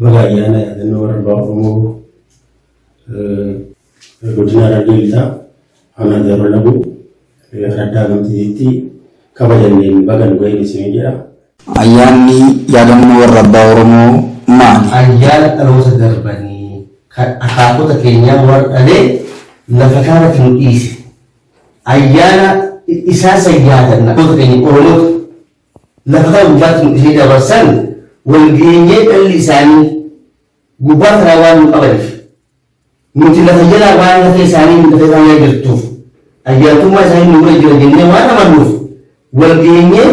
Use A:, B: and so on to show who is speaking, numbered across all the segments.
A: Baga ayyaana yaadannoo warra abbaa Oromoo godina Harargee Lixaa aanaa Jaarraa Laguu araddaa Gamtiitiitti kabajanneen baga nu ga'een isin jedha. Ayyaanni
B: yaadannoo warra abbaa Oromoo maali? Ayyaana dhaloota
C: darbanii kan akaakota keenyaa warra dhalee lafa kanarratti nu dhiise. Ayyaana isaa san yaadanna. Dhaloota keenya Oromoota lafa kana gubbaatti nu dhifee dabarsan wal geenyee dhalli isaanii gubbaa kanaa waan nu qabaniif nuti lafa jalaa waan lafee isaanii nu lafee isaanii jirtuuf ayyaantummaa isaanii nu bira jira jennee waan amannuuf wal geenyee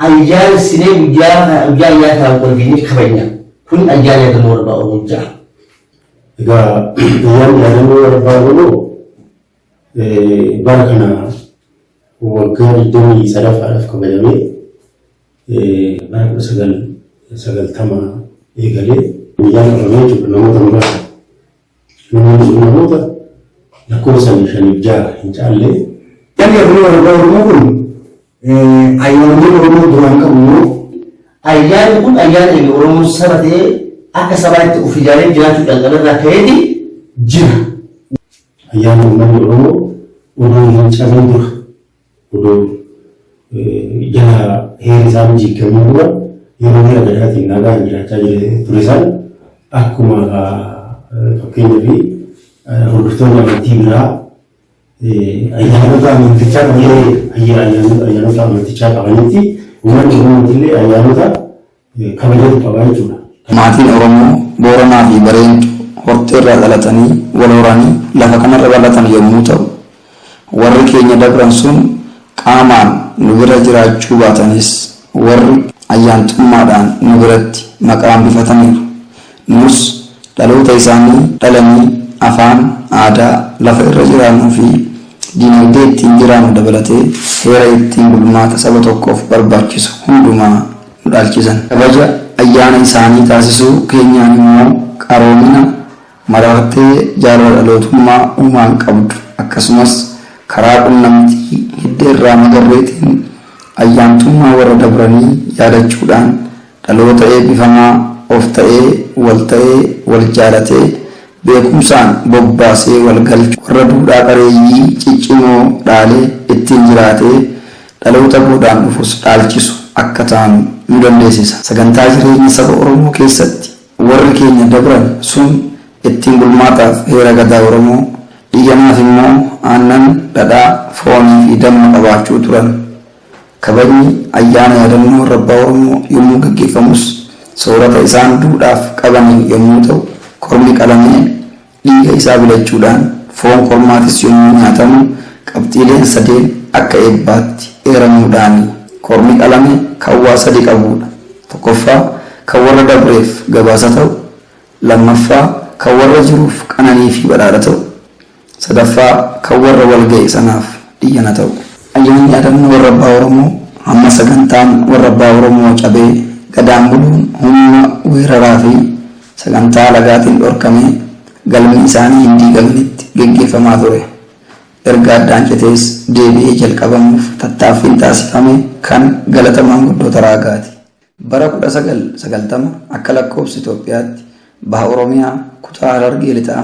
C: ayyaanessinee guyyaa kana- guyyaa ayyaana kanaan wal geenyee kabajna kun ayyaana yaadannoo warbaa oromoo ja'a. Egaa
A: ayyaanni yaadannoo warbaa oromoo Bara kana waggaa 23ffaadhaaf kabajamee bara 1990 eegalee guyyaa qabamee jechuudha namoota muraasa. Namoonni sun namoota lakkoofsaan shaniif ja'a hin caalle. Inni kun
D: warra Oromoo kun ayyaanonni Oromoo duraan qabu immoo ayyaanni
C: kun ayyaana inni Oromoo saba ta'ee akka sabaatti of ijaaree jiraachuu calqabe irraa ka'eeti jira.
A: Ayyaanni uummanni Oromoo odoo hin cabin dura, odoo jala heerri isaa hin jiiggamin dura yeroo mala gadaatiin nagaan jiraachaa jire ture san akkuma fakkeenyaaf hordoftoonni amantii biraa ayyaanota amantichaa qaban ayyaanota amantichaa qabanitti uummanni Oromootillee ayyaanota kabajatu qaba jechuudha. Maatiin Oromoo
B: Booranaa fi Bareentuu hortee irraa dhalatanii wal horanii lafa kana irra bal'atan yommuu ta'u, warri keenya dabran sun qaamaan nu bira jiraachuu baatanis warri ayyaantummaadhaan nu biratti maqaa hambifataniiru. Nus dhaloota isaanii dhalanii afaan, aadaa, lafa irra jiraannuu fi diinagdee ittiin jiraannu dabalatee heera ittiin bulmaata saba tokkoof barbaachisu hundumaa nu dhaalchisan. Kabaja ayyaana isaanii taasisuu keenyaan immoo qaroomina, marartee jaalala dhalootummaa uumaan qabdu akkasumas karaa qunnamtii hidda irraa magarreetiin ayyaantummaa warra dabranii yaadachuudhaan dhaloota eebbifamaa of ta'ee, wal ta'ee, wal jaalatee, beekumsaan bobbaasee wal galchu, warra duudhaa qareeyyii ciccimoo dhaalee ittiin jiraatee, dhaloota boodaan dhufus dhaalchisu akka taanu nu dandeessisa. Sagantaa jireenya saba Oromoo keessatti warri keenya dabran sun ittiin bulmaataaf heera Gadaa Oromoo, dhiiganaaf immoo aannan, dhadhaa, foonii fi damma qabaachuu turan. Kabajni ayyaana yaadannoo warra abbaa Oromoo yommuu gaggeeffamus soorata isaan duudhaaf qabaniin yommuu ta'u kormi qalamee Dhiiga isaa bilachuudhaan foon kormaatis yommuu nyaatamu qabxiileen sadeen akka eebbaatti eeramuudhaani. Kormi qalame kan waa sadi qabuudha. Tokkoffaa, kan warra dabreef gabaasa ta'u, lammaffaa, kan warra jiruuf qananii fi badhaadha ta'u, sadaffaa, kan warra wal ga'e sanaaf dhiyyana ta'u. Ayyaanni Yaadannoo Warra Abbaa Oromoo hamma sagantaan Warra Abbaa Oromoo cabee Gadaan buluun humna weeraraa fi sagantaa alagaatiin dhorkamee galmi isaanii hin diigamnetti geggeeffamaa ture erga addaan citees deebi'ee jalqabamuuf tattaaffiin taasifame kan galata maanguddoota Raagaati. Bara 1990 akka lakkoofsa Itoophiyaatti Baha Oromiyaa kutaa Harargee Lixaa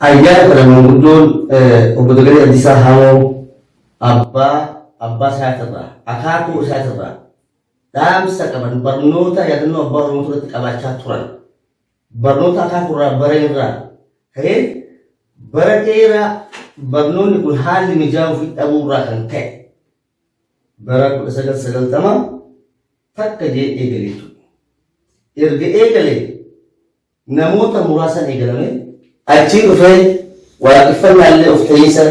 C: Ayyaana kana manguddoon Obbo Dagalee Abdiisaa Haamoo abbaa abbaa isaatirraa, akaakuu isaatirraa dhaamsa qaban barnoota yaadannoo abbaa Oromootu irratti qabaachaa turan. Barnoota akaakuurraa baranirraa ka'ee bara dheeraa barnoonni kun haalli mijaa'uufi dhabuurraa kan ka'e bara 1990 takka jee eegale jechuudha. Erga eegalee namoota muraasaan eegalame. Achii dhufee waaqeffannaa illee of ta'iinsa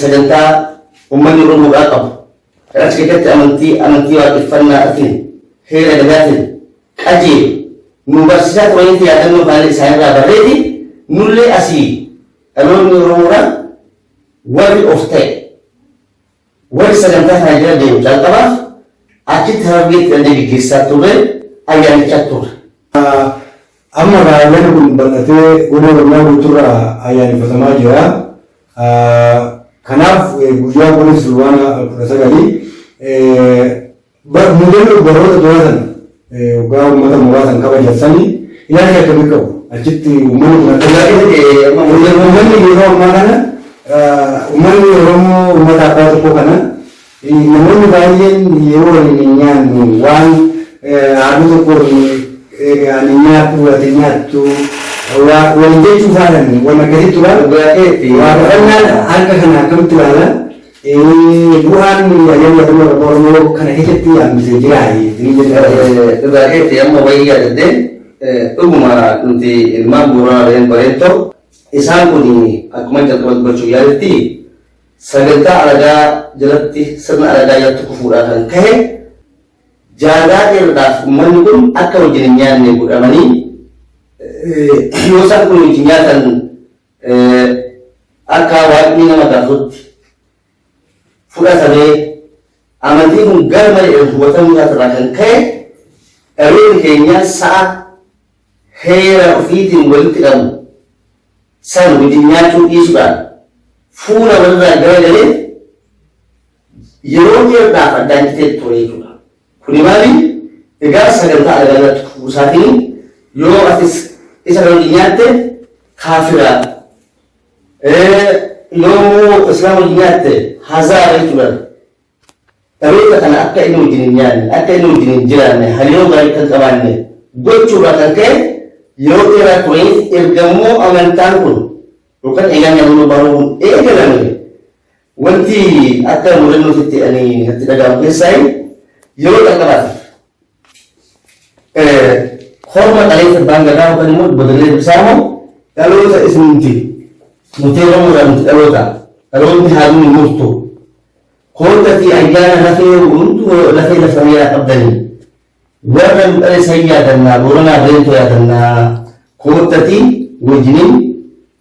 C: sagantaa ummanni Oromoodhaa qabu kan achi keessatti amantii amantii waaqeffannaatiin heera gadaatiin qajeelu nu barsiisaa turanitti yaadannoo kana isaanirraa barreeti nullee asii dhaloonni Oromoodhaa warri of ta'e Warri sagantaa kana jala deemu calqabaaf achitti Harargeetti dandee geggeessaa turre ayyaanichaa turre.
D: Amma egaa ayyaanni kun bal'atee goda Oromiyaa guuturraa ayyaaneffatamaa jira. Kanaaf guyyaa goda Silwaana 19 Bar mudannoo baroota duraa san hoggaa ummata mooraa san kabajan sanii ilaalcha akkamii qabu? Achitti ummanni kun akka ilaalu ummanni yeroo ammaa kana ummanni Oromoo ummata abbaa tokkoo kana namoonni baay'een yeroo waliin hin nyaannu waan haaduu tokkoon ani nyaadhu ati hin nyaattu waliin jechuu faadhan waan akkasii tura. Waaqeffannaan harka kana akkamitti ilaala? Bu'aan ayyaanni yaadannoo Waraqqoo Oromoo kana keessatti hambise jiraa jettanii jettan?
C: Dhugaa keeti amma wayii yaadadhe dhuguma nuti ilmaan Booranaa ta'een Bareentoo isaan kun akkuma jalqaba dubbachuuf yaaletti sagantaa alagaa jalatti sirna alagaa jalatti kufuudhaa kan ka'e jaagaa dheeraadhaaf uummanni kun akka wajjin hin nyaanne godhamanii yoo isaan kun wajjin nyaatan Akkaa waaqnii nama kaasuutti fudhatamee amantiin kun gar malee hubatamuu isaati irraa kan ka'e dhaloonni keenyaa sa'a heera ofiitiin walitti qabu san wajjin nyaachuu dhiisuudhaan fuula walirraa garagalee yeroo dheerdaaf addaan citee ture jechuudha. Kuni maali egaa sagantaa alagaanatti kufuusaatiin yoo atis isa kan wajjin nyaatte kaafira yoo immoo islaama wajjin nyaatte hazaara jechuudhaan dhaloota kana akka inni wajjin hin nyaanne akka inni wajjin hin jiraanne hariiroo gaarii kan qabaanne gochuurraa kan ka'e yeroo dheeraa turaniif erga immoo amantaan kun yookaan eegaan yaadannoo bahuun eegalame Wanti akka mudannootitti ani natti dhaga'amu keessaayi yeroo jalqabaatiif korma dhaleessa abbaan gadaa yookaan immoo bodalee bisaamo dhaloota isinti muteeramuudhaan nuti dhaloota dhaloonni haaluun hin murtu koottati ayyaana lafee hundu lafee lafanii yaa qabdanii warra nu dhale san yaadannaa booranaa beentoo yaadannaa koottati wajjiniin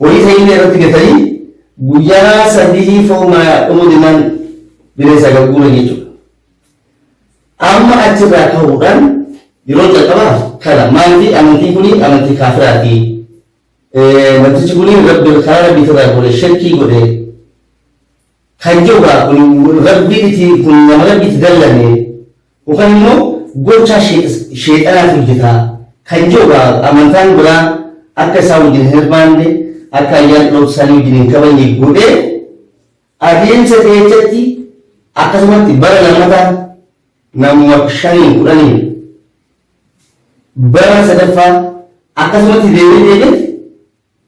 C: Horii tayillee irratti gatanii guyyaa sadihii foon maayaa dhumuu jennaan bira isaa gad guuran jechuudha. Amma achirraa ka'uudhaan yeroo jalqabaa kana maalti amantiin kuni amantii kaafiraati. Namtichi kuni rabbi karaa rabbiitirraa godhe shirkii godhe kan jedhuudha kun rabbiin itti kun nama rabbi itti dallane Yookaan immoo gochaa sheexanaatu hojjeta kan jedhu amantaan biraa akka isaa wajjin hin hirmaanne, akka ayyaana dhaloota isaanii wajjin hin kabajne godhee adeemsa seechatti akkasumatti bara lammataa namuma shaniin kudhaniin bara sadaffaa akkasumatti deemee deemee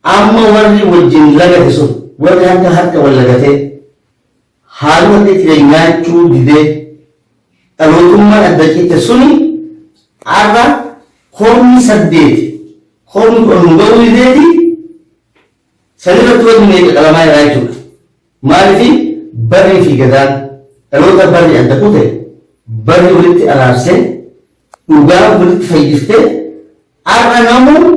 C: Amma warri wajjin lagate sun, warri harka harka wal lagatee, haaluma itti ture nyaachuu didee, dhalootummaan adda cite suni har'a kormi saddeet, kormi kudhan nu ga'uu dideeti, san irratti wanni meeqa qalamaa jiraa jechuudha. Maalifi barrii fi gadaan dhaloota barri adda kute, barri walitti araarsee, dhugaan walitti fayyiftee, har'a namuu,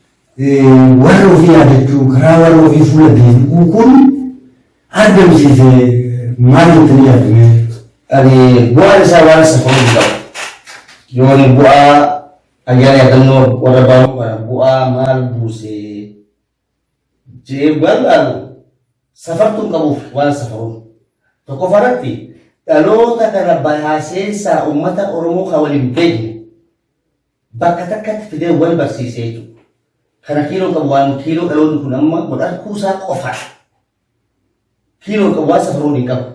D: Warra ofii yaadachuu, karaa warra ofii fuula deebi'uu kun argamsiise maal jettanii yaaddu mee?
C: Ani bu'aan isaa waan safaru hin qabu. Yoo ani bu'aa ayyaana yaadannoo warra baanuu kana bu'aa maal buuse jedhee bu'aan laalu safartuu hin qabuuf waan safaruuf. Tokkoffaa irratti dhaloota kana bahaa seensaa uummata Oromoo kan waliin beekne bakka takkatti fidee wal barsiisee jechuudha. Kana kiiloo qabu waan kiiloo dhaloonni kun amma wal arguu isaa qofa kiiloo qabu waan safaruun hin qabu.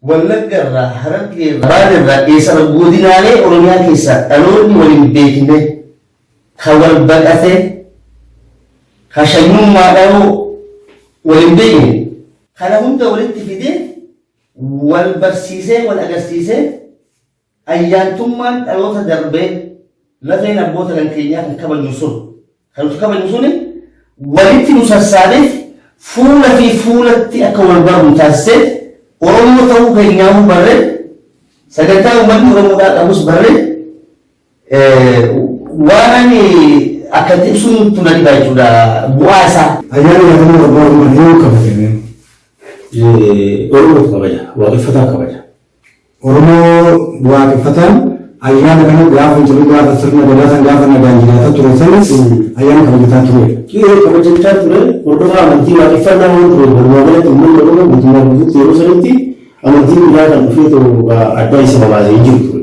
C: Wallagga irraa harargee irraa baal irraa eessarra godinaalee oromiyaa keessaa dhaloonni wal hin beekne ka wal baqate ka shanyummaa dhaloo wal hin beekne kana hunda walitti fidee wal barsiisee wal agarsiisee Ayyaantummaan dhaloota darbee lafeen abboota kan keenyaa kan kabajnu sun, kan nuti kabajnu suni walitti nu sassaabeet fuula fi fuulatti akka wal barru nu taasiseet Oromoo ta'uu keenyaahuu barree sagantaa uummanni Oromoodhaa qabus barree waan ani akka itti ibsuun tun adibaa jechuudha bu'aa isaa. Ayyaanni yaadannoo abbaa
D: Oromoo yoom kabajame?
A: Oromoo kabaja, waaqeffataa kabaja. Oromoo
D: waaqeffataan ayyaana kana gaafa jiru gaafa sirna gadaa san gaafa nagaan jiraataa ture sanis ayyaana kabajataa tureera. Qe'ee kabajachaa
A: ture hordofaa amantii waaqeffannaa waan tureef walumaa galatti ummanni Oromoo guutummaa guutuutti yeroo sanitti amantiin biraa kan dhufeetoo adda isa babaase hin jiru ture.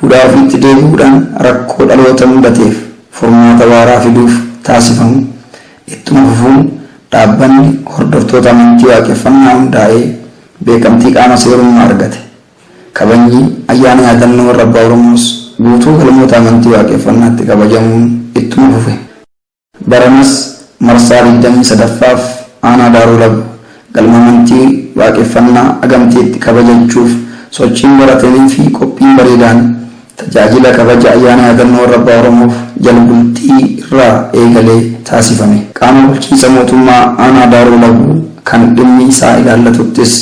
B: duudhaa ofiitti deebi'uudhaan rakkoo dhaloota mudateef furmaata waaraa fiduuf taasifamu ittuma fufuun dhaabbanni hordoftoota amantii Waaqeffannaa hundaa'ee beekamtii qaama seerummaa argate. Kabajni Ayyaana Yaadannoo Warra Abbaa Oromoos guutuu galmoota amantii Waaqeffannaatti kabajamuun ittuma fufe. Baranas marsaa 23ffaaf Aanaa Daaroo Labu galma amantii Waaqeffannaa Agamteetti kabajachuuf sochiin barataniifi qophiin bareedaan tajaajila kabaja Ayyaana Yaadannoo Warra Abbaa Oromoof Jalbultii irraa eegalee taasifame. Qaama bulchiinsa mootummaa Aanaa Daaroo Labu kan dhimmi isaa ilaallatuttis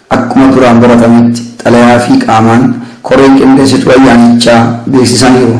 B: Akkuma duraan baratametti xalayaa fi qaamaan koreen qindeessituu ayyaanichaa beeksisaniiru.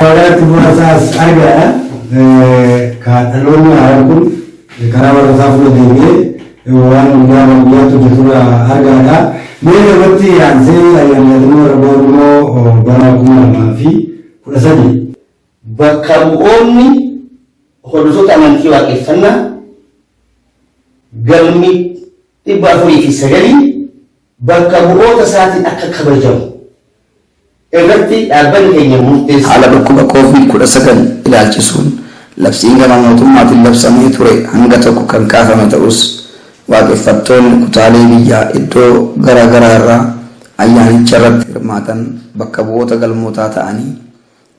D: Waggaatti muraasaas argaadha. Kan dhaloonni haaraan kun karaa barnootaa fuula deemee waan guyyaa waan guyyaatti hojjetudha argaadha. Mee irratti aansee ayyaana yaadannoo warra Oromoo bara kuma lamaa fi kudha sadii. Bakka
C: bu'oonni hordoftoota amantii waaqeffannaa galmi 409 bakka bu'oota isaatiin akka kabajamu irratti dhaabbanni
B: keenya murteesse. Haala dhukkuba Covid 19 ilaalchisuun labsiin gama mootummaatiin labsamee ture hanga tokko kan kaafame ta'us, waaqeffattoonni kutaalee biyyaa iddoo gara garaa irraa ayyaanicharratti hirmaatan bakka bu'oota galmootaa ta'anii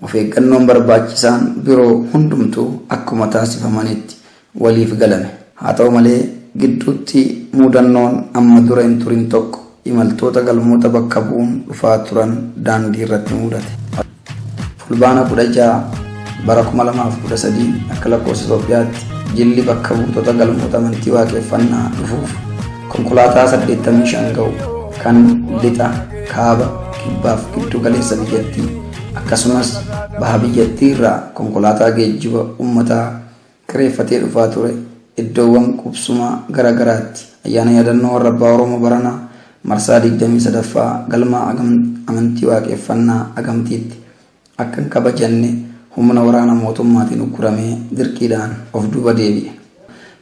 B: Of eeggannoon barbaachisaan biroo hundumtuu akkuma taasifamanitti waliif galame. Haa ta'u malee, gidduutti muudannoon amma dura hin turin tokko imaltoota galmoota bakka bu'uun dhufaa turan daandii irratti muudate. Fulbaana 16, bara 2013 akka lakkoofsa Itoophiyaatti jilli bakka buutota galmoota amantii waaqeffannaa dhufuuf konkolaataa 85 ga'u kan lixa, kaaba, kibbaaf giddu galeessa biyyattii Akkasumas baha biyyattii irraa konkolaataa geejjiba ummataa kireeffatee dhufaa ture iddoowwan qubsumaa gara garaatti Ayyaana Yaadannoo Warrabbaa Oromoo baranaa marsaa 23ffaa galma amantii Waaqeffannaa Agamtiitti akka hin kabajanne humna waraana mootummaatiin ugguramee dirqiidhaan of duuba deebi'e.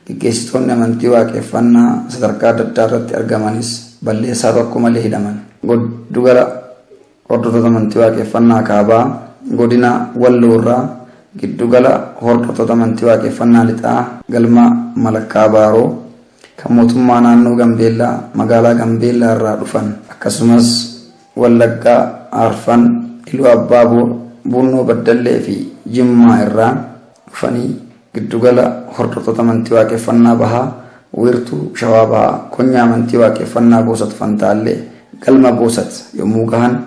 B: Geggeessitoonni amantii Waaqeffannaa sadarkaa adda addaa irratti argamanis balleessaa tokko malee hidhaman. Goddugala. Hordoftoota Amantii Waaqeffannaa Kaabaa Godina Walloo irraa Giddu Gala Hordoftoota Amantii Waaqeffannaa Lixaa Galma Malakkaa Baaroo kan Mootummaa Naannoo Gambeellaa Magaalaa Gambeellaa irraa dhufan akkasumas Wallaggaa Arfan, Iluu Abbaa Boor, Buunnoo Baddallee fi Jimmaa irraa dhufanii Giddugala Hordoftoota Amantii Waaqeffannaa Bahaa Wiirtuu Shawaa Bahaa Konyaa Amantii Waaqeffannaa Boosat Fantaallee Galma Boosat yommuu gahan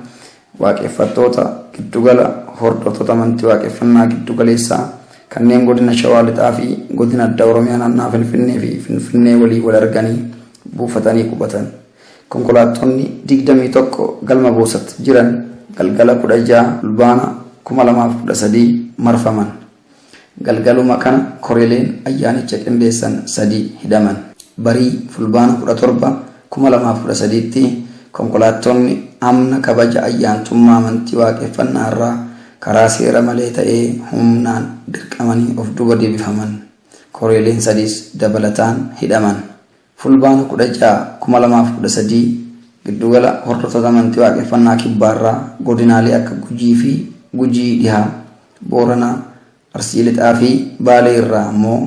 B: Waaqeffattoota Giddugala Hordoftoota Amantii Waaqeffannaa Giddugaleessaa kanneen Godina Shawaa Lixaa fi Godina Addaa Oromiyaa Naannawaa Finfinnee fi Finfinnee waliin wal arganii buufatanii qubatan. Konkolaattonni 21 Galma Boosat jiran galgala 16 Fulbaana 2013 marfaman. Galgaluma kana koreeleen ayyaanicha qindeessan sadii hidhaman. Barii Fulbaana 17, 2013tti konkolaattonni amna kabaja ayyaantummaa amantii Waaqeffannaa irraa karaa seera malee ta'ee humnaan dirqamanii of duuba deebifaman. Koreeleen sadiis dabalataan hidhaman. Fulbaana 16, 2013 Giddugala Hordoftoota Amantii Waaqeffannaa Kibbaarraa godinaalee akka Gujii fi Gujii Dhihaa, Booranaa, Arsii Lixaa fi Baalee irraa ammoo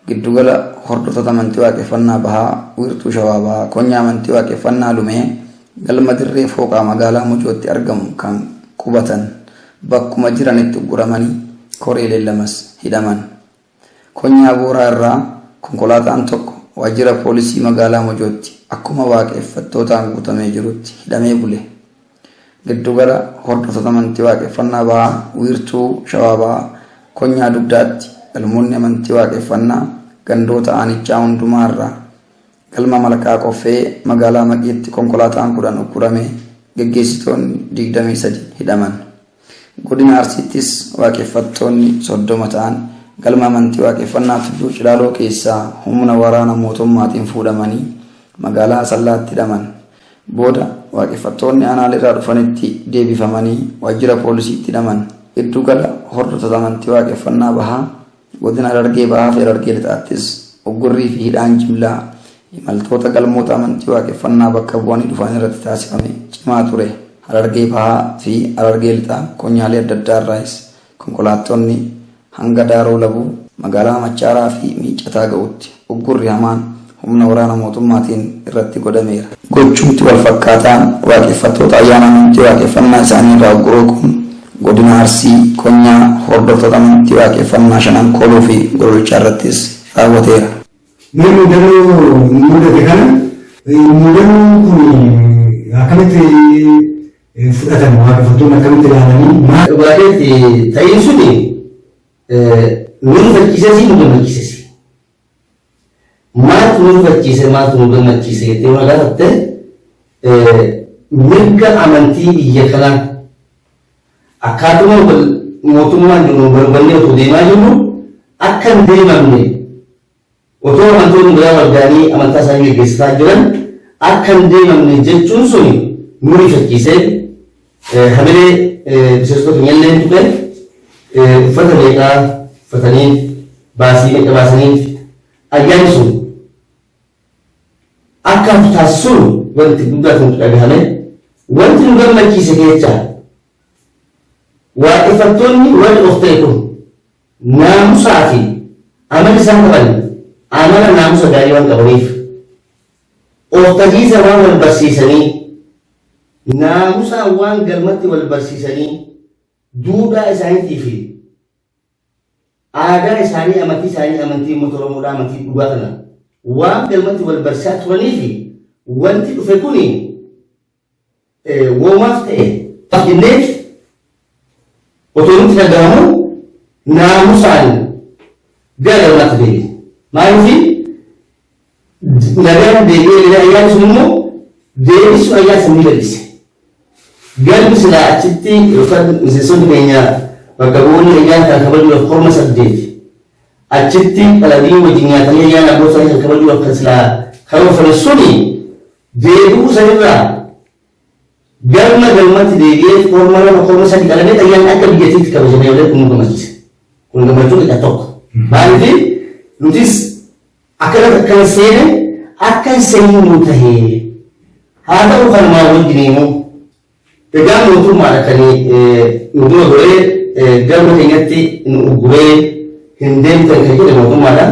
B: Giddugala Hordoftoota Amantii Waaqeffannaa Bahaa Wiirtuu Shawaa Bahaa Konyaa Amantii Waaqeffannaa Lumee Galma Dirree Fooqaa Magaalaa Mojootti argamu kan qubatan bakkuma jiranitti ugguramanii koreeleen lamas hidhaman. Konyaa Booraa irraa konkolaataan tokko waajjira poolisii magaalaa Mojootti akkuma waaqeffattootaan guutamee jirutti hidhamee bule. Giddu gala hordoftoota amantii waaqeffannaa bahaa wiirtuu Shawaa Bahaa konyaa Dugdaatti galmoonni amantii waaqeffannaa gandoota aanichaa hundumaa irraa galma Malkaa Qoffee magaalaa Maqiitti konkolaataan 10 ukkuramee geggeessitoonni 23 hidhaman. Godina Arsiittis Waaqeffattoonni 30 ta'an galma amantii Waaqeffannaa Tulluu Cilaaloo keessaa humna waraana mootummaatiin fuudhamanii magaalaa Asallaatti hidhaman. Booda Waaqeffattoonni aanaaleerraa dhufanitti deebifamanii waajjira poolisiitti hidhaman. Giddu gala hordoftoota amantii Waaqeffannaa Bahaa Godina Harargee Bahaafi Harargee Lixaattis uggurriifi hidhaan jimlaa imaltoota galmoota amantii waaqeffannaa bakka bu'anii dhufan irratti taasifame cimaa ture. Harargee Bahaa fi Harargee Lixaa konyaalee adda addaa irraayis konkolaattonni hanga Daaroo Labuu, magaalaa Machaaraa fi Miiccataa ga'utti. uggurri hamaan humna waraana mootummaatiin irratti godhameera. Gochumti walfakkaataan waaqeffattoota ayyaana amantii waaqeffannaa isaanii irraa ugguruu kun Godina Arsii konyaa hordoftoota amantii waaqeffannaa Shanan Kooluu fi Gololchaa irrattis raawwateera. Mee
D: muudannoo nu muudate kana muudannoon kun akkamitti fudhatama waaqeffattoonni akkamitti ilaalanii maal. Dhugaatiif
C: ta'iin suni nu rifachiisesii nu gammachiisesi. Maaltu nu rifachiise maaltu nu gammachiise jettee yoo gaafatte mirga amantii biyya kanaa akkaatuma mootummaan jiru barbaannee otoo deemaa jirru akka hin deemamne Otoo amantoonni biraa wal ga'anii amantaa isaanii geggeessataa jiran akka hin deemamne jechuun suni nu rifachiisee hamilee miseensota keenya illee tuqe. Uffata meeqaa uffataniif, baasii meeqa baasaniif ayyaanni sun akka hafu taasisuun wanti guddaa ta'u nutti dhagahame. Wanti nu gammachiise keessaa waaqeffattoonni warri of ta'e kun, Naamusaa fi amala isaan qaban amala naamusa gaarii waan qabaniif of tahiisa waan wal barsiisanii naamusaan waan galmatti wal barsiisanii duudhaa isaaniitii fi aadaa isaanii amantii isaanii amantii uummata Oromoodhaa amantii dhugaa kana waan galmatti wal barsiisaa turanii fi wanti dhufe kuni woomaas ta'e xinneef otoo nutti dhaga'amu naamusaan gara galmaatti deebite. Maaliif nagaan deebi'ee gara ayyaana sun immoo deebisuu ayyaana sun ni bal'ise. Galmi silaa achitti yookaan miseensonni keenya bakka bu'oonni ayyaana kan kabajuudhaaf korma saddeet achitti qaladiin wajjin nyaatanii ayyaana abbootaa kan kabajuudhaaf kan silaa karoorfame suni deebi'uu san irraa galma galmatti deebi'ee korma lama korma sadi qalamee xayyaan akka biyyatiitti kabajamee malee kun nu gammachiisa. Kun gammachuu xiqqa tokko. Maaliif nutis akkana takka hin seene akka hin seenne nu tahee. Haa ta'u kan maa wajjin immoo egaa mootummaan akka nu dura goree galma keenyatti nu ugguree hin deemtan kan jedhe mootummaadha.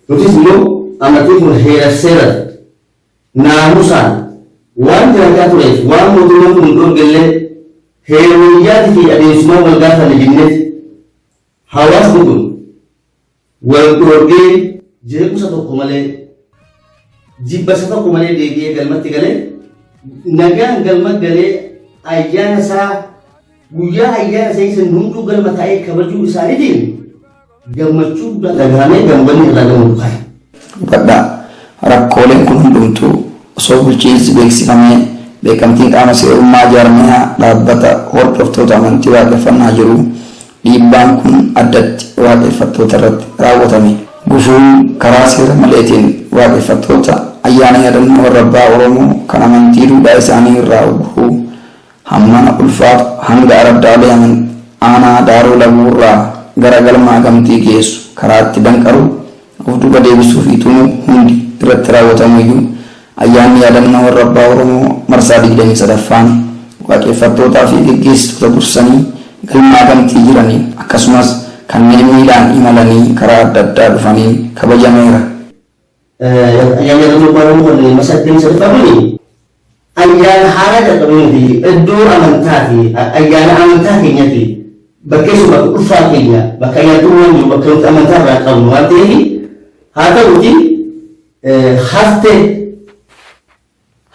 C: Nutis immoo amantiin kun heera seera naamusaan waan jiraataa tureef waan mootummaan kun nu dhoorge illee heera biyyaati fi adeemsumaan wal gaafanne jenneeti. Hawaasni kun wal dhoorgee jeequmsa tokko malee jibbasa tokko malee deebi'ee galmatti galee nagaan galma galee ayyaana isaa guyyaa ayyaana isaa isa hunduu galma taa'ee kabajuu isaaniitiin Gammachuu guddaa dhaga'amee gambanni irraa gama bu'aa'e. Hubadhaa,
B: Rakkooleen kun hundumtuu osoo bulchiinsi beeksifamee beekamtiin qaama seerummaa jaarmayaa, dhaabbata, hordoftoota amantii waaqeffannaa jiruu dhiibbaan kun addatti waaqeffattoota irratti raawwatame. Gufuun karaa seera maleetiin waaqeffattoota ayyaana yaadannoo warra abbaa Oromoo kan amantii duudhaa isaanii irraa ugguruu, Hammana ulfaatu hanga araddaalee Aman aanaa Daaroo Labuu irraa gara galma Akamtii geessu karaatti danqaruu, of duuba deebisuu fi tumuu hundi irratti raawwatamu iyyuu Ayyaanni Yaadannoo Warra Abbaa Oromoo marsaa 23ffaan Waaqeffattootaa fi geggeessitoota dursanii galma Akamtii jiraniin akkasumas kanneen miilaan imalanii karaa adda addaa dhufaniin kabajameera.
C: Ayyaanni Tokkummaa Oromoo kan marsaa 23ffaa kuni ayyaana haaraa jalqabnee nuti iddoo amantaa fi ayyaana amantaa keenyatti bakkeessu bakka dhuunfaa keenya bakka ayyaantummaan jiru bakka nuti amantaa irraa qabnu waan ta'eef haa ta'uti haftee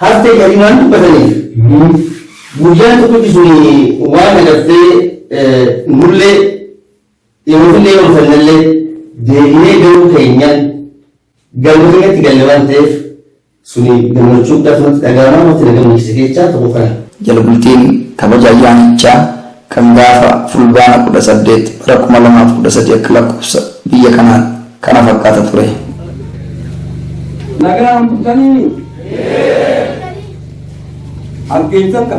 C: haftee jedhanii waan dubbataniif guyyaan tokkichi sun waan agartee nullee Dhihoofillee yoo dhufannellee deebinee galuu keenyaan galma keenyatti galle waan ta'eef suni gammachuu guddaatu natti dhaga'ama wanti na gammachiise keessaa tokko kana. Jala bultiin
B: kabaja ayyaanichaa kan gaafa Fulbaana 18 bara 2013 akka lakkoofsa biyya kanaatti. kana fakkaata ture.
E: Nagaan bultaniini? As geessan ka?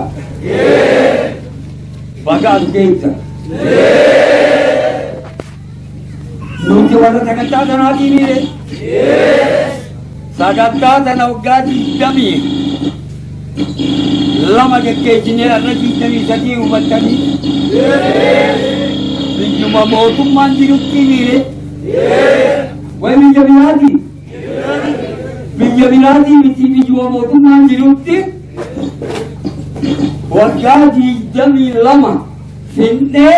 E: Baga as geessan. Nuti warra sagantaa sanaatii miire? Sagantaa tana waggaa 22 geggeessinee har'a 23 hubattanii biyyuma mootummaan jirutti miire way biyya biraati biyya biraati miti biyyuma mootummaan jirutti waggaa 22 finnee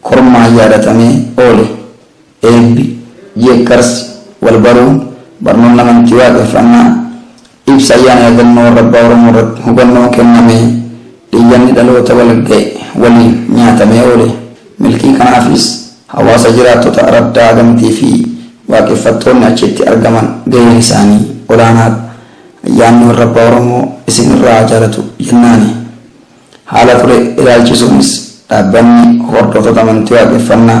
B: Kormaan yaadatamee oole. Eebbi, jeekkarsi, walbaruun, barnoonni amantii waaqeffannaa, ibsa ayyaana yaadannoo warra abbaa Oromoo irratti hubannoon kennamee, iyyanni dhaloota walga'e waliin nyaatamee oole. Milkii kanaafis hawaasa jiraattota araddaa Agamtii fi waaqeffattoonni achitti argaman gaheen isaanii olaanaadha. Ayyaanni warra abbaa Oromoo isin irraa haa jaalatu jennaani. Haala ture ilaalchisuunis dhaabbanni Hordoftoota Amantii Waaqeffannaa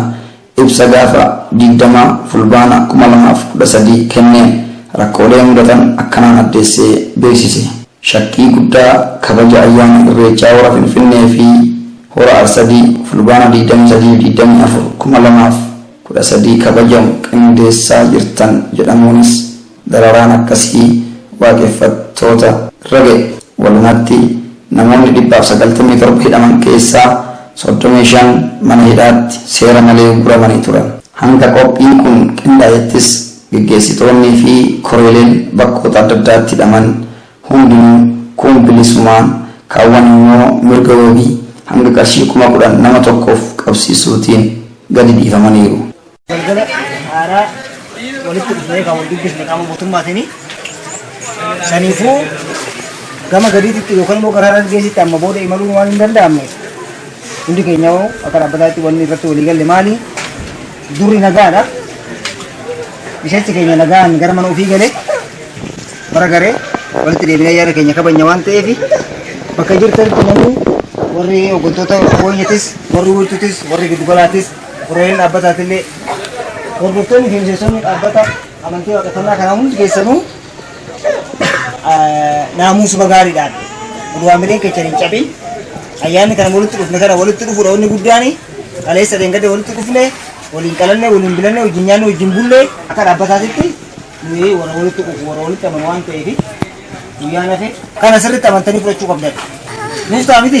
B: ibsa gaafa digdama Fulbaana kuma lamaa fi kudha sadii kenneen rakkoolee mudatan akkanaan addeessee beeksise. Shakkii guddaa kabaja ayyaana Irreechaa Hora Finfinnee fi Hora Arsadii Fulbaana digdamii sadii fi digdamii afur, kuma lamaa fi kudha sadii kabajamu qindeessaa jirtan jedhamuunis, Dararaan akkasii waaqeffattoota irra ga'e. Walumatti namoonni 197 hidhaman keessaa 35 mana hidhaatti seera malee ugguramanii turan. Hanga qophiin kun qindaa'ettis geggeessitoonnii fi koreeleen bakkoota adda addaatti hidhaman hundinuu kuun bilisumaan, kaawwan immoo mirga wabii hanga qarshii 10,000 nama tokkoof qabsiisuutiin gadi dhiifamaniiru. Galgala
F: haaraa walitti dhufnee kan wal dubbisne qaama mootummaatiin saniifuu gama gadiitti yookaan immoo karaa dargaggeessitti amma booda imaluun waan hin danda'amne hundi keenya hoo akka dhaabbataatti wanni irratti walii galle maali durri nagaadha miseensi keenya nagaan gara mana ofii galee bara garee walitti deebinee yaada keenya kabanya waan ta'eef bakka jirtanitti namni warri hooggantoota booyyatis warri wiirtutis warri giddugalaatis Koreen dhaabbataatillee hordoftoonni fi miseensonni dhaabbata amantii waaqeffannaa kanaa hundi keessanuu naamuusuma gaariidhaan waamileen keessan hin cabin ayyaanni kana walitti dhufne kana walitti dhufuudha wanni guddaan kaleessa deengade walitti dhufne waliin qalanne waliin bilanne wajjin nyaanne wajjin bulle akka dhaabbataatitti nuyi warra walitti dhufu warra walitti amanu waan ta'eef guyyaa nafe kana sirriitti amantanii fudhachuu qabdan. Nuus ta'a miti?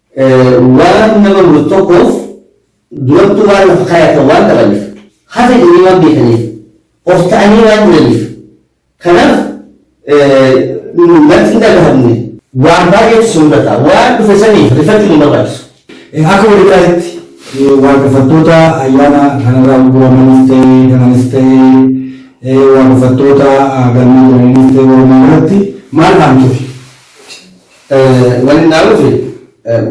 C: Waan nama muru tokkoof durattuu waan lafa kaayatan waan dhabaniif, hafe jedhanii waan beekaniif, of ta'anii waan jiraniif. Kanaaf natti hin dhagahamne. Waan baay'eetu si mudata. Waan dhufe saniif rifachuun hin barbaachisu. Akka walii
D: galaatti waaqeffattoota ayyaana kanarraa ugguramanis ta'ee kananis ta'ee waaqeffattoota galma jiraniinis ta'ee walumaa galatti maal dhaamtuufi? Wani
C: naa dhufe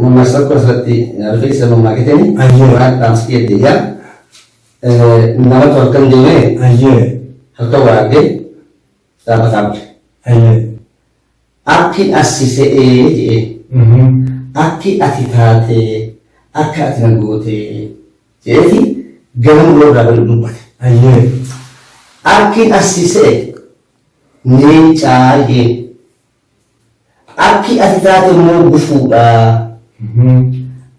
C: mammaaksa tokko asirratti naa dhufe isa mammaakitani Ayyee. waan dhaamsi kiyya deebi'a. Namatu halkan deemee Ayyee. halkan waa argee dhaabbataa bule. Ayyee. Akki assi se'ee jedhee Mhm. akki ati taatee akka ati na gootee jedheeti gara muroo irraa gadi dubbate. Ayyee. Akki assi se'e leencaa jedhee Akki ati taate immoo gufuudha.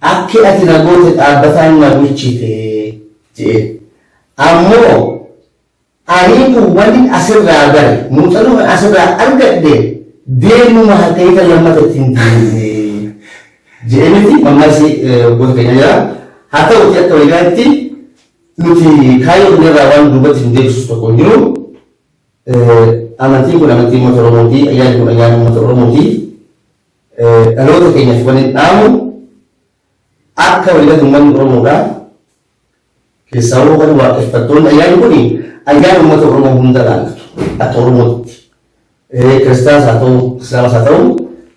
C: Akki ati na goote dhaabbataan na bulchite je'een. Ammoo anii kun wannin asirraa bare, muuxanoo kan asirraa argadhe deemuma harkayita lammata itti hin deemne je'ee miti mammaksi waggoota keenya jira. Haa ta'uutii akka waliigalaatti nuti kaayyoo keenya irraa waan duubatti nu deebisu tokko hin jiru. Amantiin kun amantii uummata Oromooti, ayyaanni kun ayyaana uummata Oromooti. Dhaloota keenyaf wanin dhaamu akka waliigalatti uummanni Oromoodha. Keessaawuu kan waaqeffattoonni ayyaanni kun ayyaana uummata Oromoo hunda ilaallatu akka Oromootti. Kiristaanas haa ta'u, Islaamas haa ta'u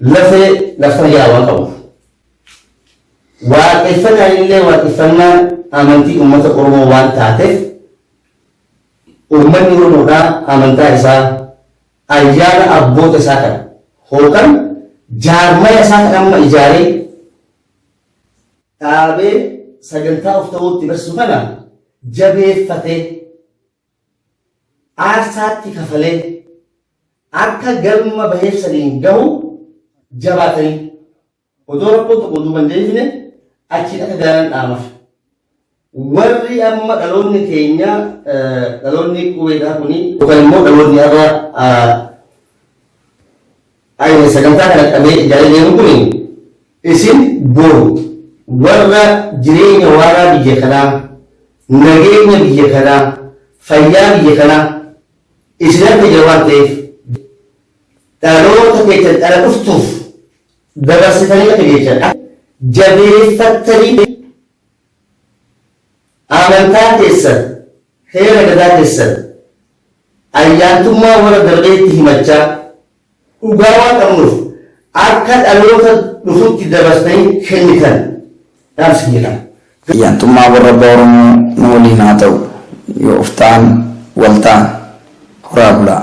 C: lafee laftana jalaa waan qabuuf. Waaqeffannaan illee waaqeffannaa amantii uummata Oromoo waan taateef Uummanni Oromoodhaa amantaa isaa, ayyaana abboota isaa kan hookan jaarmaya isaa kan amma ijaaree dhaabee sagantaa of ta'uutti barsisu kana jabeeffatee aarsaatti kafalee akka galma baheef saniin gahu jabaatanii Odoo rakkoon tokko duuba hin deebine achiin akka gaaraan dhaamafe. Warri amma dhaloonni keenya dhaloonni qubeedhaa kuni yookaan immoo dhaloonni har'a ayina sagantaa kana qabee ijaaree deemu kuni isin boru warra jireenya waaraa biyya kanaa nageenya biyya kanaa fayyaa biyya kanaa isin harka jira waan ta'eef dhaloota keessan dhala dhuftuuf dabarsitanii akka geessan akka jabeeffattanii amantaa keessan, heera gadaa keessan, ayyaantummaa warra darbeetti himachaa dhugaa waan qabnuuf akka dhaloota dhufutti dabarsitanii kennitan dhaamsa kiyya kana. Ayyaantummaa warra
B: abbaa Oromoo nu waliin haa ta'u. Yooftaan wal taana. Horaa bulaa.